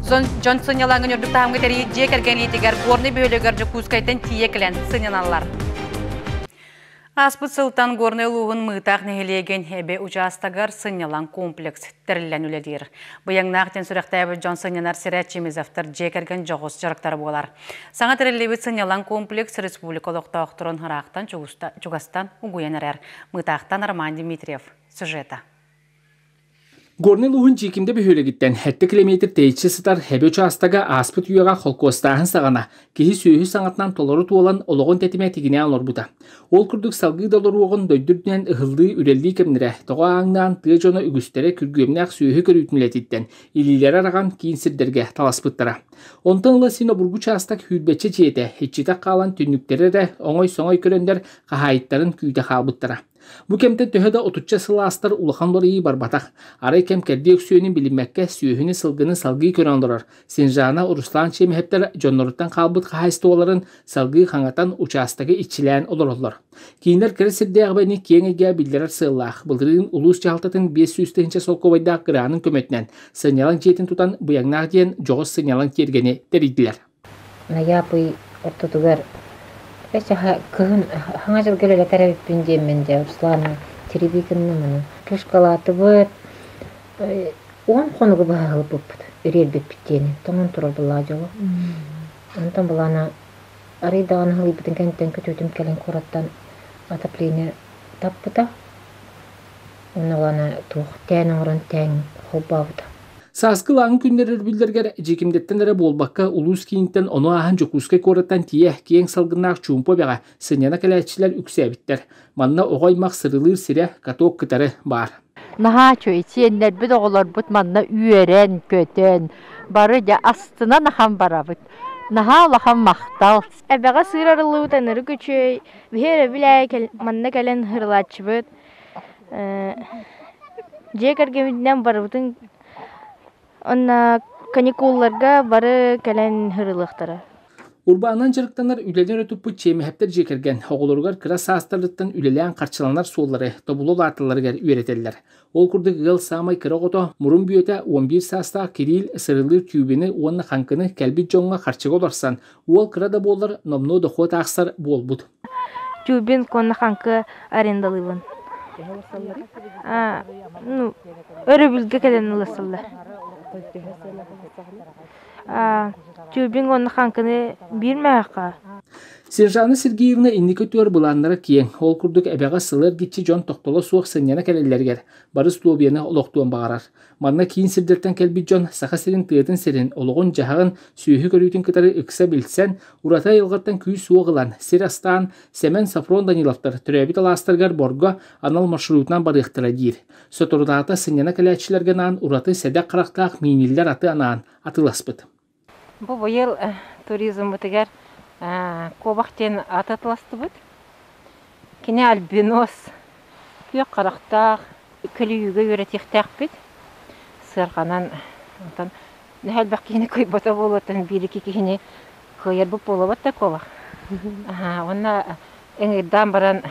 Дьон сынньалаҥын үрдүк таһымга тэрийит дьиэ кэргэн иитигэр Горнай бөһүөлэгэр Дьокуускайтан тиийэ кэлэн сынньаналлар. Ааспыт сылтан Горнай улууһун Мыытаах нэһилиэгин Эбэ учаастагар сынньалаҥ комплекс тэриллэн үлэлиир. Быйаҥнаах диэн сүрэхтээбит дьон сынньанар сирэ Чемизовтар дьиэ кэргэн дьоҕус дьарыктара буолар. Саҥа тэриллибит сынньалаҥ комплекс республика олохтоохторун хараахтан чугастан угуйан эрэр. Мыытаахтан Роман Дмитриев сюжета. Горнай улууһун Дьиикимдэ бөһүөлэгиттэн 70 километр тэйиччи сытар Эбэ учаастага ааспыт үйэҕэ холкуостааһын саҕана киһи-сүөһү саҥатынан толору туолан олоҕун тэтимэ тигинээн олорбута. Ол курдук салгыы да олоруоҕун дойдурдунан ыһыллыы үлэлии кэмнэрэ тоҕо ааҥнаан тыа дьоно үгүстэрэ күргүөмнээх сүөһү көрүүтүн үлэтиттэн илиилэрэ араҕан киин сирдэргэ таласпыттара. Онтон ыла син обургу учаастак хүүрбэччэ дьиэтэ иччитэх хаалан түннүктэрэ эрэ оҥой-соҥой көрөннөр хаһаайыттарын күүтэ хаалбыттара. Бу кэмтэн төһө да отучча сыл аастар улахан уларыйыы барбатах. Арай кэм кэрдии өксүөнүн билиммэккэ, сүөһүнү-сылгыны салгыы көрөн олорор. Синжана, Руслан Чемеһептер дьонноруттан хаалбыт хаһаайыстыбаларын салгыы хаҥатан учаастагы иччилээн олороллор. Кииннэр кыра сирдээҕибэни киэҥ эйгэҕэ биллэрэр сыаллаах. Былырыын улуус дьаһалтатын биэс сүүс тыһыынча солкуобайдаах гранын көмөтүнэн сынньалаҥ дьиэтин тутан Быйаҥнаах диэн дьоҕус сынньалаҥ тиэргэни тэрийдилэр. Найаапый ортотугар эчэһэ кыһын хаҥа дьылга үлэлэтэр эбиппин диэммин дьэ Руслану тирилии гынным аны тушкалаатыбыт уон хонугу быһа ылбыппыт үриэрбиппит диэни тоҥон турар былаах дьоло онтон былаана арый даҕаны халыйбытын кэнниттэн күтүөтүм кэлин куораттан отопление таппыта Онолана туох тээн оҥорон тээн холбообута. Сааскы ылааҥы күннэр өрөбүллэригэр дьиикимдиттэн эрэ буолбакка, улуус кииниттэн ону ааһан Дьокуускай куораттан тиийэ киэҥ салгыннаах чуумпу эбэҕэ сынньана кэлээччилэр үксээбиттэр. Манна оҕо аймах сырылыыр сирэ, каток кытары баар. Наһаа үчүгэй, сиэннэрбит, оҕолорбут манна үөрэн, көтөн, бары дьэ астынан ахан барабыт. Наһаа улахан махтал, Эбэҕэ сыыр арыллыбыт ынырык үчүгэй, биһи өрөбүл аайы манна кэлэн ыһырылааччыбыт. Дьиэ кэргэммитинэн барыбытын уонна каникулларга бары кэлэн ыһырылыахтара. Урбаанынан дьарыктанар үлэлэр туппут чиэмэһэптэр дьиэ кэргэн оҕолоругар кыра саастарыттан үлэлээн харчыланар суоллары тобулу улааталларыгар үөрэтэллэр. Ол курдук ыал саамай кыра оҕото, мурун бүөтэ уон биир саастаах Кирилл сырылыыр тюбины уонна хаҥкыны кэлбит дьоҥҥо харчыга олорсон, уол кыра да буоллар номнуо дохуот аахсар буолбут. Тюбин уонна хаҥкы арендалыыбын. Ну, өрөбүлгэ кэлэн ылсаллар. Тюбинг уонна хаҥкыны биир мөһөххө Сержана Сергеевна инники өттүгэр былааннара киэҥ. Ол курдук эбэҕэ сылы эргиччи дьон тохтоло суох сынньана кэлэллэригэр бары усулуобуйаны олохтуон баҕарар. Манна киин сирдэртэн кэлбит дьон Саха сирин тыатын сирин, олоҕун-дьаһаҕын, сүөһү көрүүтүн кытары ыкса билсэн, ураты айылҕаттан күүс-уох ылан, сир астаан Сэмэн Софрон Даниловтар төрөөбүт алаастарыгар Борго анал маршрутунан барыахтара диир. Соторутаата сынньана кэлээччилэргэ анаан ураты сэдэх харахтаах мииниллэр аты анаан атыласпыт. Бу быйыл туризмбытыгар куобах диэн аты атыластыбыт. Кини альбинос, күөх харахтаах, көлүйүүгэ үөрэтиэхтээхпит. Сыарҕанан онтон элбэх киһини кыйбата буолуоттан биир iki киһини кыайарбыт буолабыт да куобах. Уонна эҥирдээн баран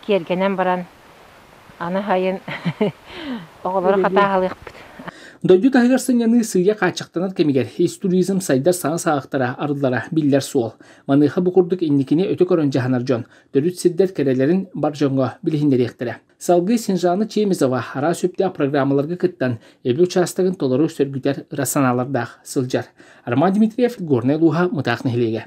киэргэнэн баран аны сайын оҕолору хатааһалыахпыт. Дойду таһыгар сынньаныы сыыйа хааччахтанар кэмигэр ис туризм сайдар саҥа саҕахтара, арыллара биллэр суол. Маныаха бу курдук инникини өтө көрөн дьаһанар дьон төрүт сирдэр кэрэлэрин бар дьоҥҥо билиһиннэриэхтэрэ. Салгыы Синжана Чемизова араас үптээх программаларга кыттан эбэ учаастагын толору сөргүтэр ыра санаалардаах сылдьар. Арман Дмитриев, Горнай улууһа Мытаах нэһилиэгэ.